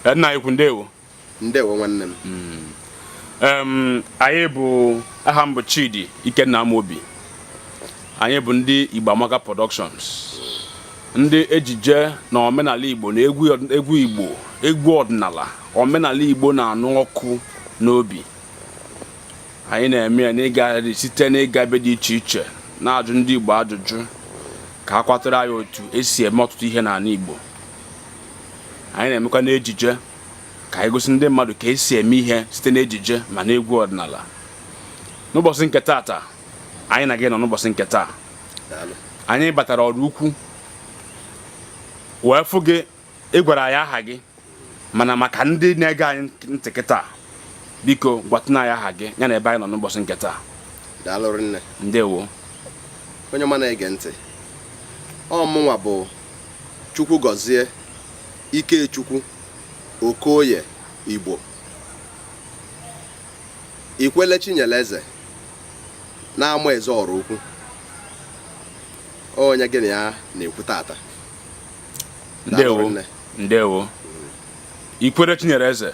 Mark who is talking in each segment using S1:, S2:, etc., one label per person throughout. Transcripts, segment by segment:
S1: Eh, nna anyị ukwu ndewo ndewo
S2: nwanne m hmm. anyị
S1: bụ aha m bụ Chidi Ikenna Amobi anyị bụ ndị Igbo Amaka Productions ndị ejije na omenala Igbo na egwu Igbo egwu ọdịnala omenala Igbo na-anụ ọkụ n'obi anyị na-eme ya n'ịga site n'ịga ebe dị iche iche na-ajụ ndị Igbo ajụjụ ka a kọwatara anyị otu esi eme ọtụtụ ihe n'ala Igbo anyị na-emekwa n'ejije ka anyị gosi ndị mmadụ ka esi eme ihe site n'ejije ma n'egwu ọdịnala n'ụbọchị nke taata anyị na gị nọ n'ụbọchị nke taa anyị batara Oraukwu wee fụ gị ị gwara anyị aha gị mana maka ndị na-ege anyị ntị kịta biko gwatụna anyị aha gị ya na ebe anyị nọ n'ụbọchị nke taa daalụ rinne
S2: ndewo
S1: onye
S2: ọma na-ege ntị ọ mụnwa bụ Chukwugọzie Ikechukwu Okoye Igbo Ikwele Chinyeleze n'Amaeze Oraukwu onye gị na ya na-ekwu taata ndewo
S1: ndewo Ikwele Chinyeleze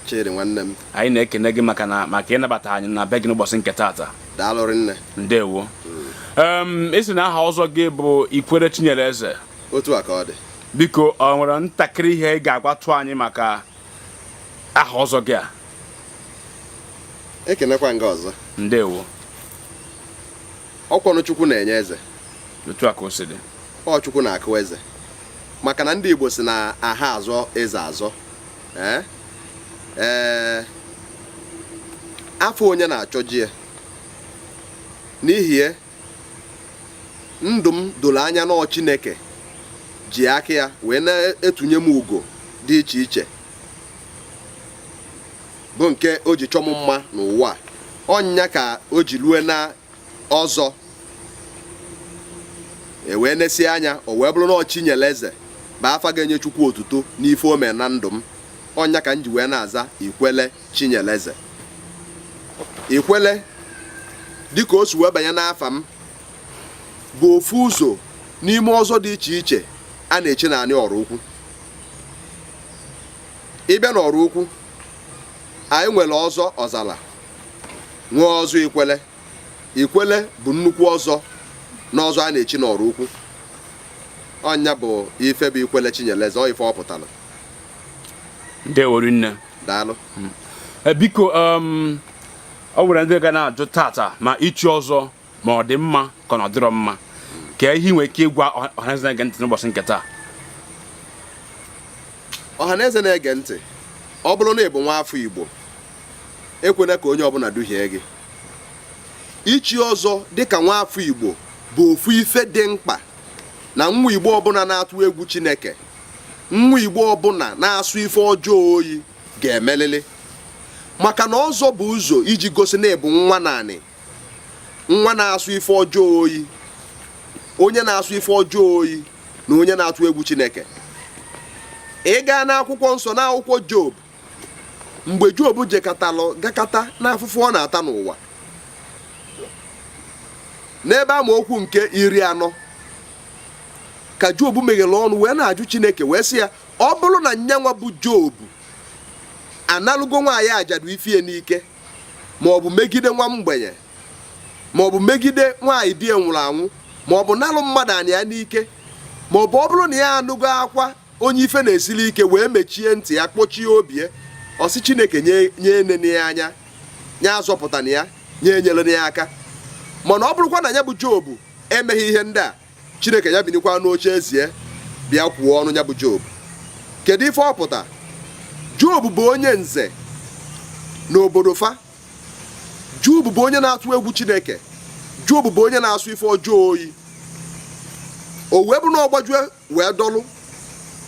S1: chidi
S2: nwanne m anyị na-ekene gị
S1: maka na maka ịnabata anyị na be gị n'ụbọchị nke taata daalụ rinne ndewo ị sị na aha ọzọ gị bụ ikwele chinyere eze otu a ka ọ
S2: dị biko ọ nwere
S1: ntakịrị ihe ị ga-agwatụ anyị maka aha ọzọ gị
S2: a ekenekwa m gị ọzọ ndewo ọkwanụ chukwu na-enye eze otu a ka o
S1: si dị ọ chukwu na-akụ
S2: eze maka na ndị igbo si na aha azọ eze azọ ee ee afọ onye na-achọ ji ya n'ihi ya ndụ m doro anya na ọ Chineke ji aka ya wee na-etunye m ugo dị iche iche bụ nke o ji chọọ m mma n'ụwa ọ nya ka o ji lue na ọzọ e wee nesie anya o wee bụrụ na ọ chinyeleze bụ afa ga-enye chukwu otuto n'ife o mere na ndụ m ọ nya ka m ji wee na-aza ikwele chinyeleze ikwele dịka o si wee banye n'afa m bụ ofu ụzọ n'ime ọzọ dị iche iche a na-echi n'anị Oraukwu ị bịa n'Oraukwu anyị nwere ọzọ ọzala nwee ọzọ ikwele ikwele bụ nnukwu ọzọ n'ọzọ a na-echi n'Oraukwu ọ nya bụ ife bụ ikwele chinyeleze ọ ife ọ
S1: pụtara ndewo rinne daalụ hmm.
S2: eh, biko
S1: um, ọ nwere ndị ga na-ajụ taata ma ichi ọzọ ma ọ dị mma ka ọ na ọ dịrọ mma kee ihe i nwere ike ịgwa ọhaneze na-ege ntị n'ụbọchị nke
S2: taa ọhaneze na-ege ntị ọ bụrụ na ị bụ nwa afọ Igbo ekwena ka onye ọbụna duhie gị ichi ọzọ dịka nwa afọ Igbo bụ ofu ife dị mkpa na nwa Igbo ọbụna na-atụ egwu Chineke nwa Igbo ọbụna na-asọ ife ọjọọ oyi ga-emelili maka na ọzọ bụ ụzọ iji gosi na ị bụ nwa naanị nwa na-asọ ife ọjọọ oyi onye na-asọ ife ọjọọ oyi na onye na-atụ egwu Chineke ị gaa n'akwụkwọ nsọ n'akwụkwọ Job mgbe Job jekatalụ gakata n'afụfụ ọ na-ata n'ụwa n'ebe amaokwu nke iri anọ ka Job meghere ọnụ wee na-ajụ Chineke wee sị ya ọ bụrụ na nyanwa bụ Job analụgo nwaanyị ajadu ife ya n'ike ma ọ bụ megide nwa mgbenye ma ọ bụ megide nwaanyị di ya nwụrụ anwụ ma ọ bụ nalụ mmadụ ana ya n'ike ma ọ bụ ọ bụrụ na ya anụgo akwa onye ife na-esili ike wee mechie ntị ya kpọchie obi ya ọ sị chineke nya enene ya anya nya azọpụtana ya nya enyelena ya aka mana ọ bụrụkwa na nya bụ job emeghị ihe ndị a chineke nya binikwa n'oche eze ya bịa kwuo ọnụ nya bụ job kedu ife ọ pụta job bụ onye nze n'obodo fa job bụ onye na-atụ egwu chineke job bụ onye na-asọ ife ọjọọ oyi o wee bụ na ọ gbajue wee dọlụ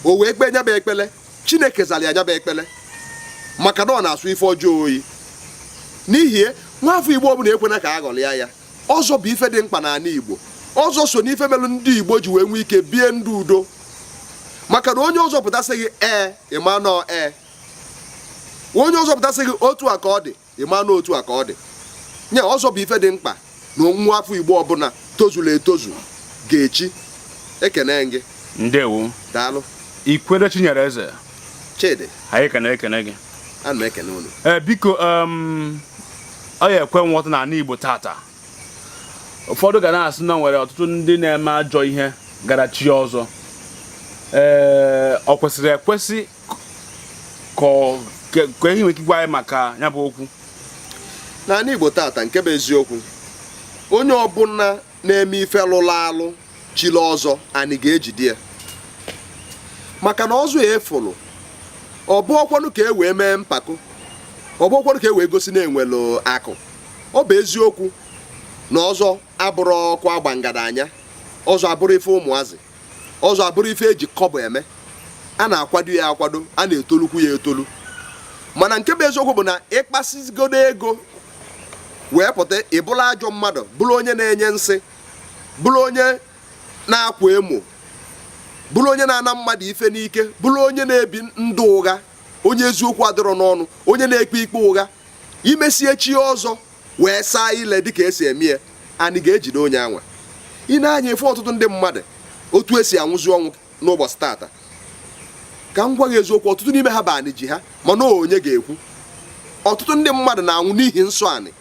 S2: o wee kpee nya bụ ekpele chineke zalụ ya nya bụ ekpele maka na ọ na-asọ ife ọjọọ oyi n'ihi ya nwa afọ igbo ọbụna ekwena ka a ghọlịa ya ọzọ bụ ife dị mkpa n'anị Igbo ọzọ so n'ife melụ ndị Igbo ji wee nwee ike bie ndụ udo maka na onye ọzọ pụta sị gị ee ị ma na ọ ee onye ọzọ pụta sị gị otu a ka ọ dị ị ma na ọ otu a ka ọ dị nya ọzọ bụ ife dị mkpa na nwa afọ Igbo ọbụna tozuru etozu ga-echi
S1: ekene gị
S2: ndewo
S1: daalụ ikwelle chinyere
S2: eze chidi anyị ekene
S1: ekene gị ana m ekene unu
S2: eh, biko um,
S1: ọ ya ekwe nghọta na anị Igbo tata ụfọdụ ga na-asị na o nwere ọtụtụ ndị na-eme ajọ ihe gara chie ọzọ ee ọ kwesịrị ekwesị kee ihe i nwere ike ịgwa anyị maka ya bụ okwu n'anị
S2: Igbo tata nke bụ eziokwu onye ọbụna na-eme ife lụrụ alụ chiri ọzọ anyị ga-ejide ya maka na ọzọ ị fụrụ ọ bụrọkwanụ ka e wee mee mpako ọ bụrọkwanụ ka e wee gosi na e nwere akụ ọ bụ eziokwu na ọzọ abụrọ ọkụ agba ngadanya ọzọ abụrọ ife ụmụazị ọzọ abụrọ ife e ji kọbọ eme a na-akwado ya akwado a na-etolukwu ya etolu mana nke bụ eziokwu bụ na ị kpasịgodu ego wee pụta ị bụrụ ajọ mmadụ bụrụ onye na-enye nsị bụrụ onye na-akwa emo bụrụ onye na-ana mmadụ ife n'ike bụrụ onye na-ebi ndụ ụgha onye eziokwu adịrọ n'ọnụ onye na-ekpe ikpe ụgha imesie chie ọzọ wee saa ile dịka esi eme ya anị ga-ejide onye anwa i nee anya ife ọtụtụ ndị mmadụ otu esi anwụzi ọnwụ n'ụbọchị tata ka m gwa gị eziokwu ọtụtụ n'ime ha bụ anị ji ha mana onye ga-ekwu ọtụtụ ndị mmadụ na-anwụ n'ihi nsọ anị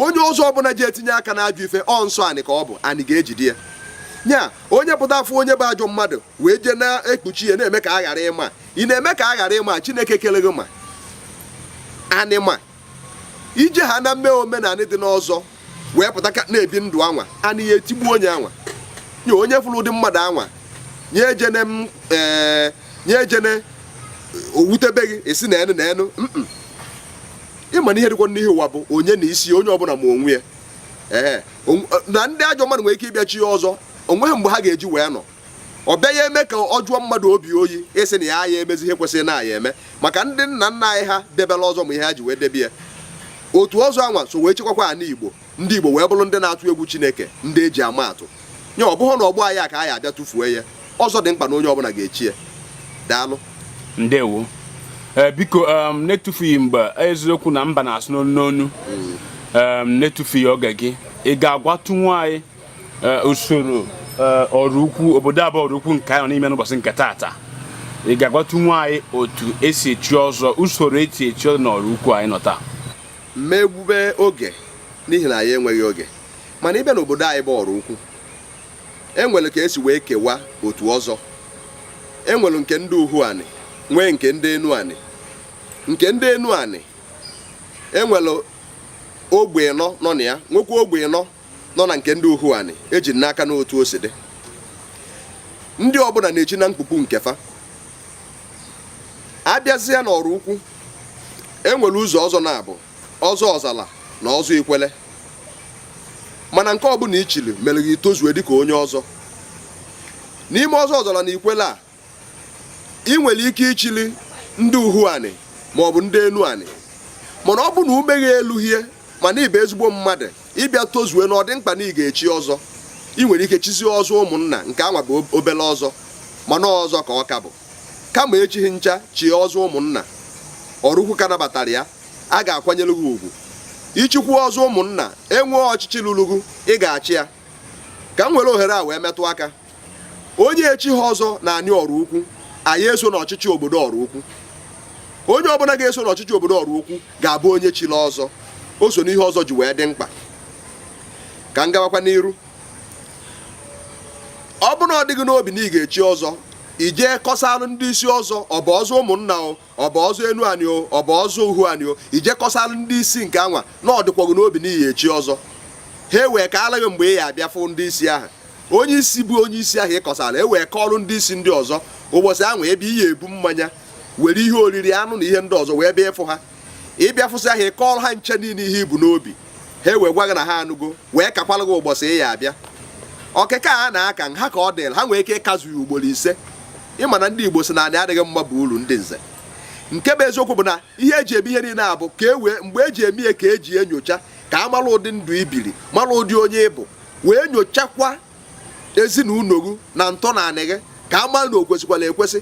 S2: onye ọzọ ọbụla ji etinye aka n'ajọ ife ọ nsọ anị ka ọ bụ anị ga-ejide ya nya onye pụta afọ onye bụ ajọ mmadụ wee jee na-ekpuchi ya na-eme ka a ghara ịma ị na-eme ka a ghara ịma chineke kele gị ma anị ma ije ha na mmee omenanị dị n'ọzọ wee pụta ka na-ebi ndụ anwa anị ya etigbu onye anwa nya onye fụrụ ụdị mmadụ anwa nya ejene owutebe gị isi na enu na enu ịma na ihe dịkwa n'ihi ụwa bụ onye na isi ya onye ọbụla ma onwe ya na ndị ajọ mmadụ nwere ike ịbịa chie ọzọ onweghị mgbe ha ga-eji wee nọ ọ bịa ya eme ka ọ jụọ mmadụ obi oyi ịsị na a ya emezi ihe kwesịrị na ya eme maka ndị nna nna anyị ha debela ọzọ ma ihe ha ji wee debe ya otu ọzọ anwa so wee chekwakwa anị igbo ndị igbo wee bụrụ ndị na-atụ egwu chineke ndị eji ama atụ nya ọ bụghị na ọgbọ anyị a ka anyị abịa tụfuo ya ọzọ dị mkpa na onye ọbụla ga-echi ya daalụ
S1: ndewo eh, biko um, na-etufughị mgbe eziokwu na mba na-asụ n'onu n'onu um, na-etufughị oge gị ị ga-agwatụnwu anyị eh, usoro eh, Oraukwu obodo a bụ Oraukwu nke anyị nọ n'ime n'ụbọchị nke taata ị ga-agwatụnwu anyị otu esi echi ọzọ usoro esi echi ọzọ n'Oraukwu anyị nọ taa m ma egbube
S2: oge n'ihi na anyị enweghị oge mana ịbịa n'obodo anyị bụ Oraukwu enwere ka esi wee kewa otu ọzọ enwere nke ndị uhu anị nwee nke ndị enu anị nke ndị enu anị enwere ogbe ịnọ nọ na ya nwekwa ogbe ịnọ nọ na nke ndị Uhuani eji n'aka n'otu o si dị ndị ọbụla na-echi na mkpukpu nke fa abịazịa n'Oraukwu enwere ụzọ ọzọ naabọ ọzọ ọzala na ọzọ ikwele mana nke ọbụla ichili mere gị tozue dịka onye ọzọ n'ime ọzọ ọzala na ikwele a ị nwere ike ichili ndị uhu anị maọbụ ndị enu anị mana ọ bụ na ume gị eluhie mana ịbụ ezigbo mmadụ ịbịa tozue na ọ dị mkpa na ị ga-echi ọzọ ị nwere ike chizie ọzọ ụmụnna nke anwa bụ obele ọzọ mana ọzọ ka ọ ka bụ kama echighị ncha chie ọzọ ụmụnna Oraukwu ka nabatara ya a ga-akwanyere gị ugwu ichikwu ọzọ ụmụnna enwee ọchịchị lulu gị ị ga-achị ya ka m were ohere a wee metụ aka onye echighị ọzọ n'anị oraukwu aya eso n'ọchịchị obodo oraukwu onye ọbụla ga-eso n'ọchịchị obodo oraukwu ga-abụ onye chiri ọzọ o so n'ihe ọzọ ji wee dị mkpa ka m gawakwa n'iru ọ bụrụ na ọ dị gị n'obi na ị ga-echi ọzọ i jee kọsalụ ndị isi ọzọ ọ bụ ọzọ ụmụnna o ọ bụ ọzọ enu anị o ọ bụ ọzọ uhu anị o i jee kọsara ndị isi nke anwa na ọ dịkwa gị n'obi na ị ya echi ọzọ ha ewee kaalụ gị mgbe ị ya abịa fụ ndị isi ahụ onye isi bụ onye isi ahụ ị kọsara ewee kọọrụ ndị isi ndị ọzọ ụbọchị ahụ ebe ị ya ebu mmanya were ihe oriri anụ na ihe ndị ọzọ wee bịa ịfụ ha ị bịa fụsịa ha ị kọọrọ ha ncha niile ihe i bu n'obi ha wee gwa gị na ha anụgo wee kakwalụ gị ụbọchị ị ya abịa ọkịka a na-aka ha ka ọ dịrị ha nwee ike ịkazu ya ugboro ise ị ma na ndị igbo sị na anị adịghị mma bụ uru ndị nze nke bụ eziokwu bụ na ihe eji eme ihe niile a bụ ka e wee mgbe eji eme ihe ka eji enyocha ka a mara ụdị ndụ i biri mara ụdị onye ị bụ wee nyochakwa ezinụlọ gị na ntọ n'anị gị ka a mara na o kwesikwara ekwesi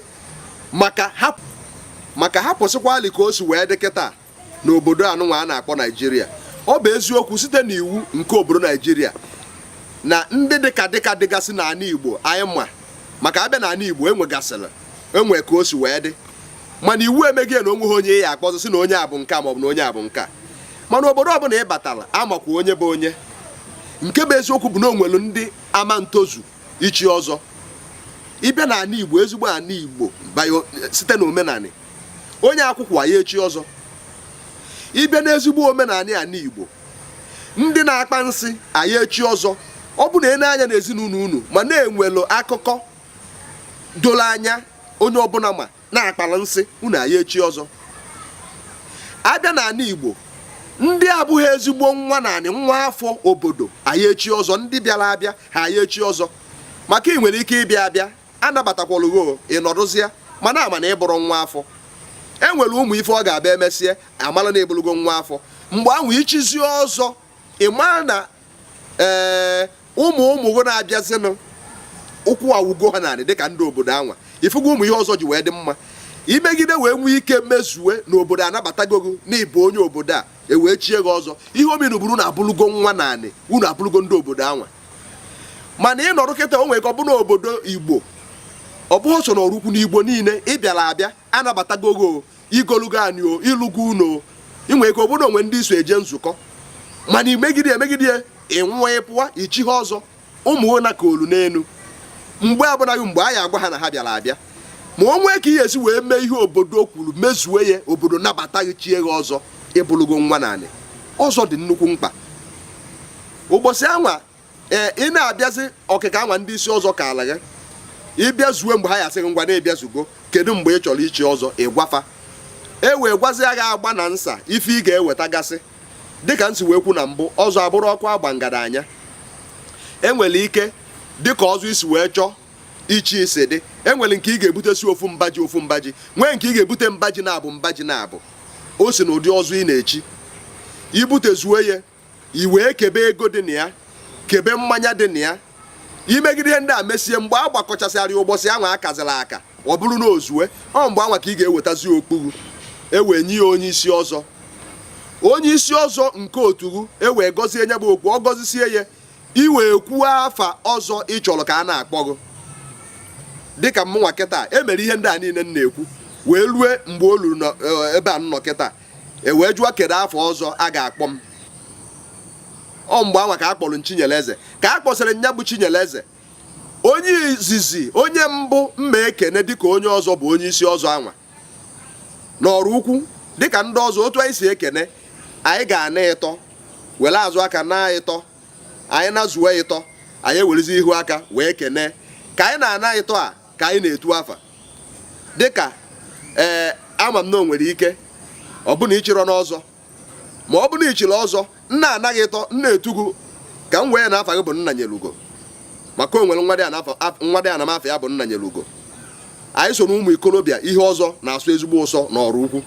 S2: maka hapụsịkwalị ka o si wee dị kịta n'obodo anụnwa a na-akpọ naijiria ọ bụ eziokwu site n'iwu nke obodo naijiria na ndị dịka dịka dịgasị n'ala igbo anyị ma maka a bịa n'ala igbo enwegasịrị enwe ka o si wee dị mana iwu emego na onweghị onye ya akpọzị sị na onye a bụ nke a maọbụ na onye a bụ nke a mana obodo ọbụla ị batara a makwa onye bụ onye nke bụ eziokwu bụ na o nwelụ ndị ama etozu ichi ọzọ ị bịa na ana igbo ezigbo ana igbo site na omenala onye akwụkwụ aya echi ọzọ ị bịa n'ezigbo omenanị ana Igbo ndị na-akpa nsị aya echi ọzọ ọ bụrụ na e nee anya n'ezinụlọ unu ma na e nwelụ akụkọ doro anya onye ọbụla ma na a kpara nsị unu aya echi ọzọ a bịa n'ala Igbo ndị abụghị ezigbo nwa n'anị nwa afọ obodo aya echi ọzọ ndị bịara abịa ha aya echi ọzọ maka ị nwere ike ịbịa abịa a nabatakwalụ gị o ị nọdụzie mana a ma na ị bụrọ nwa afọ e nwere ụmụ ife ọ ga-abịa emesịa a mala na ị bụlụgo nwa afọ mgbe ahụ i chizie ọzọ ị mara na ee eh, ụmụ ụmụ gị na-abịazinụ ụkwụ awugo ha n'anị dịka ndị obodo anwa ị fụgo ụmụ ihe ọzọ ji wee dị mma i megide wee nwee ike mezue na obodo anabatago gị na ị bụ onye obodo a ewee chie gị ọzọ ihe o menụ bụrụ na ị bụlụgo nwa n'anị unu abụlụgo ndị obodo anwa mana ị nọrọ kịta o nwere ka ọ bụ n'obodo igbo ọ bụghị so na oraukwu n'igbo niile ị bịara abịa a nabatago gị i golugo anị o ị lụgo ụnọ o ị nwere ka ọ bụ na o nwe ndị i so eje nzukọ mana i megide emegide ya ị nwụọ ị pụwa i chighị ọzọ ụmụ gị na ka olu n'elu mgbe abụnaghị mgbe a ya agwa ha na ha bịara abịa ma o nwee ka ị ya esi wee mee ihe obodo kwuru mezuo ya obodo nabata gị chie gị ọzọ ị bụlụgo nwa n'anị ọzọ dị nnukwu mkpa ụbọsị anwa ee ị na-abịazi ọkịka anwa ndị isi ọzọ kaalụ gị ị bịazuo mgbe ha ya asị gị ngwa na ị bịazugo kedu mgbe ị chọrọ ichi ọzọ ị gwa fa e wee gwazia gị agba na nsa ife ị ga-eweta gasị dịka m si wee kwuo na mbụ ọzọ abụrọ ọkụ agba ngada anya enwere ike dịka ọzọ i si wee chọọ ichi si dị enwere nke ị ga-ebutesi ofu mba ji ofu mba ji nwee nke ị ga-ebute mba ji naabọ mba ji naabọ o si na ụdị ọzọ ị na-echi i butezuo ya i wee kebe ego dị na ya kebe mmanya dị na ya i megide ihe ndị a mesie mgbe a gbakọchasịrị ụbọsị anwa a kazịrị aka ọ bụrụ na o zue ọ mgbe anwa ka ị ga-ewetazi okpu e wee nye ya onye isi ọzọ onye isi ọzọ nke otu gị e wee gọzie nya bụ okpu ọ gọzisie ya i wee kwuo afa ọzọ ị chọrọ ka a na-akpọ gị dịka mụnwa kịta e mere ihe ndị a niile m na-ekwu wee lue mgbe o luru eh, ebe a nnọ kịta e wee jụọ kedu afa ọzọ a ga-akpọ m ọ mgbe anwa ka a kpọrọ Chinyere Eze ka a kpọsịrị nya bụ Chinyere Eze onye izizi onye mbụ m ma-ekene dịka onye ọzọ bụ onye isi ọzọ anwa n'Oraukwu dịka ndị ọzọ otu anyị si ekene anyị ga-ana ịtọ were azụ aka naa ịtọ anyị nazuo ịtọ anyị ewerezi ihu aka wee kene ka anyị na-ana ịtọ a ka anyị na-etu afa dịka ee eh, ama m na o nwere ike ọ bụ na i chirọ n'ọzọ ma ọ bụ na i chiri ọzọ m na-ana gị ịtọ m na-etu gị ka m were na afa gị bụ Nnanyelugo maka o nwere nwadiana m afa ya bụ Nnanyelugo anyị so na ụmụ ikorobịa ihe ọzọ na-asọ ezigbo ụsọ na Oraukwu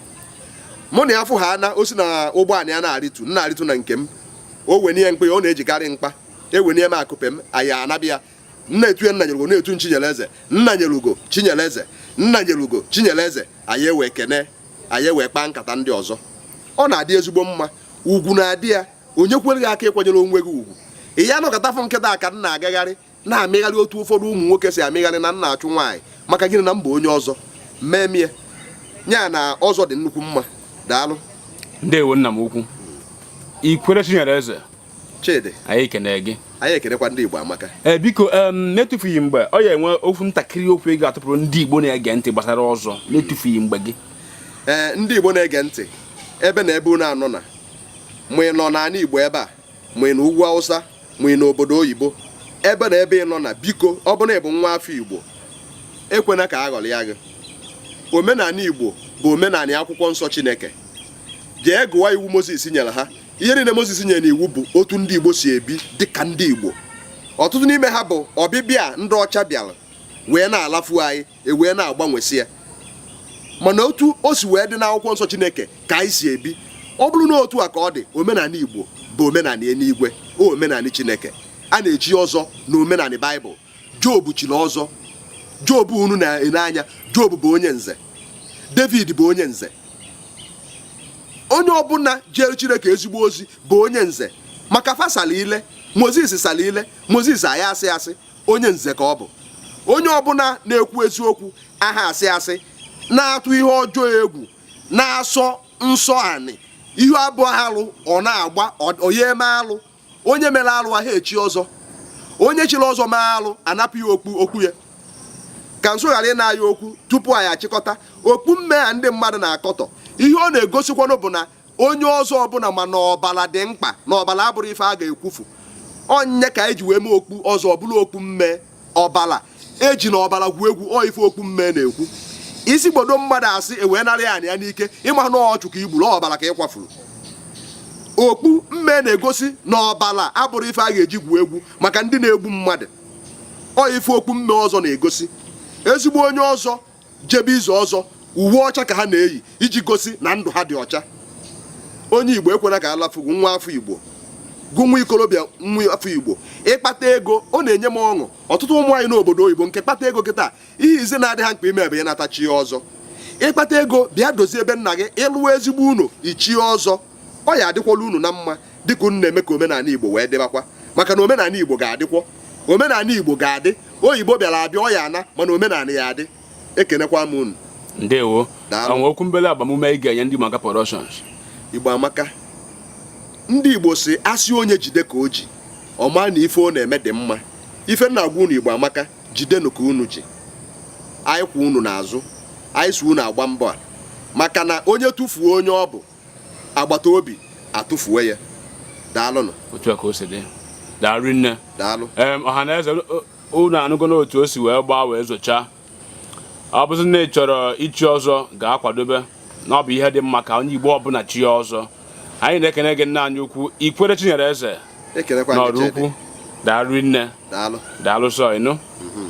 S2: mụ na ya fụ ha na o si na ụgbọ anị ya na-arịtu m na-arịtu na nke m o wenie mkpa ya ọ na-ejikarị mkpa ewenie m akupe m anyị anabịa m na-etu ya Nnanyelugo ọ na-etu Chinyere Eze Nnanyelugo Chinyere Eze Nnanyelugo Chinyere Eze anyị ewee kene anyị ewee kpaa nkata ndị ọzọ ọ na-adị ezigbo mma ugwu na-adị ya o nyekwara gị aka ịkwanyere onwe gị ugwu ị ya anọkata fụ m kịta ka m na-agagharị na-emegharị otu ụfọdụ ụmụ nwoke si emegharị na m na-achụ nwaanyị maka gịnị na m bụ onye ọzọ m memie ya na ọzọ dị nnukwu mma daalụ ndewo nna
S1: m ukwu ikwere Chinyere Eze
S2: Chidi anyị ekene
S1: gị anyị ekenekwa ndị
S2: Igbo amaka ee eh,
S1: biko n'etufughị mgbe ọ ya enwe okwu ntakịrị okwu ị ga-atụpụrụ ndị Igbo na-ege ntị gbasara ọzọ n'etufughị mgbe gị ee eh, ndị Igbo
S2: na-ege ntị ebe na ebe unu nọ na ma ị nọ n'ala Igbo ebe a ma ị nọ ugwu Awụsa ma ị nọ obodo oyibo ebe na ebe ị nọ na biko ọ bụ na ị bụ nwa afọ Igbo ekwena ka a ghọrịa gị omenala Igbo bụ omenala akwụkwọ nsọ Chineke jee gụwa iwu Mozis nyere ha ihe niile Mozis nyere n'iwu bụ otu ndị Igbo si ebi dị ka ndị Igbo ọtụtụ n'ime ha bụ ọbịbịa ndị ọcha bịara wee na-alafu anyị ewee na-agbanwesị ya mana otu o si wee dị n'akwụkwọ nsọ Chineke ka anyị si ebi ọ bụrụ na otu a ka ọ dị omenala Igbo bụ omenala eluigwe omenala Chineke a na-echi ọzọ na omenala Baịbụl Job chiri ọzọ Job unu na-ene anya Job bụ onye nze David bụ onye nze onye ọbụla jere Chineke ezigbo ozi bụ onye nze maka fa sala ile Moses sala ile Moses aya asị asị onye nze ka ọ bụ onye ọbụla na-ekwu eziokwu aha asị asị na-atụ ihe ọjọọ egwu na-asọ nsọ anị ihe bụ alụ ọ na-agba oye eme alụ onye mere alụ aha echi ọzọ onye chiri ọzọ mee alụ anapụ ya okpu okpu ya ka nso ghara ịna ya okwu tupu anyị achịkọta okpu mme a ndị mmadụ na-akọtọ ihe ọ na-egosikwanụ bụ na onye ọzọ ọbụla ma na ọbala dị mkpa na ọbala abụrụ ife a ga-ekwufu ọ ya ka anyị ji wee mee okpu ọzọ ọbụla okpu mme ọbala ejina ọbala gwuo egwu ọ ife okpu mme na-ekwu ị sịgbodo mmadụ asị ewee narị ya anị ya n'ike ị ma na ọchụ ka i gburu ọbala ka ị kwafuru okpu mme na-egosi na ọbala abụrụ ife a ga-eji gwuo egwu maka ndị na-egbu mmadụ ọ ife okpu mme ọzọ na-egosi ezigbo onye ọzọ jebe izu ọzọ uwe ọcha ka ha na-eyi iji gosi na ndụ ha dị ọcha onye igbo ekwela ka alafu gụ nwa afọ igbo gụ nwa ikorobịa nwa afọ igbo ị kpata ego ọ na-enye m ọṅụ ọtụtụ ụmụ anyị n'obodo oyibo nke kpata ego kịta ihe izizi na-adị ha mkpa ime ebe ya nata chie ọzọ ị kpata ego bịa dozie ebe nna gị ị lụa ezigbo ụnọ i chie ọzọ ọ ya adịkwala unu na mma dịka unu na-eme ka omenala Igbo wee dịbakwa maka na omenala Igbo ga-adịkwọ omenala Igbo ga-adị oyibo bịara abịa ọ ya ana mana omenala ya adị ekenekwa m unu ndewo
S1: o nwe okwu mbele agbamume ị ga-enye ndị maka productions Igbo amaka
S2: ndị Igbo si asị onye jide ka o ji ọ ma na ife ọ na-eme dị mma ife m na-agwa unu Igbo amaka jidenụ ka unu ji anyị kwụ unu n'azụ anyị so unu agba mbọ a maka na onye tụfuo onye ọ bụ agbata obi atụfuo ya daalụnụ otu a ka o si
S1: dị daalụ nne daalụ ọha
S2: na
S1: eze unu anụgo n'otu o si wee gbaa wee zochaa ọ bụzi na ị chọrọ ichi ọzọ gaa kwadobe na ọ bụ ihe dị mma ka onye igbo ọbụla chie ọzọ anyị na-ekene gị nna anyị ukwu Ikwelle chinyere eze n'Ọraukwu daalụ nne daalụ sọ ịnụ mhm.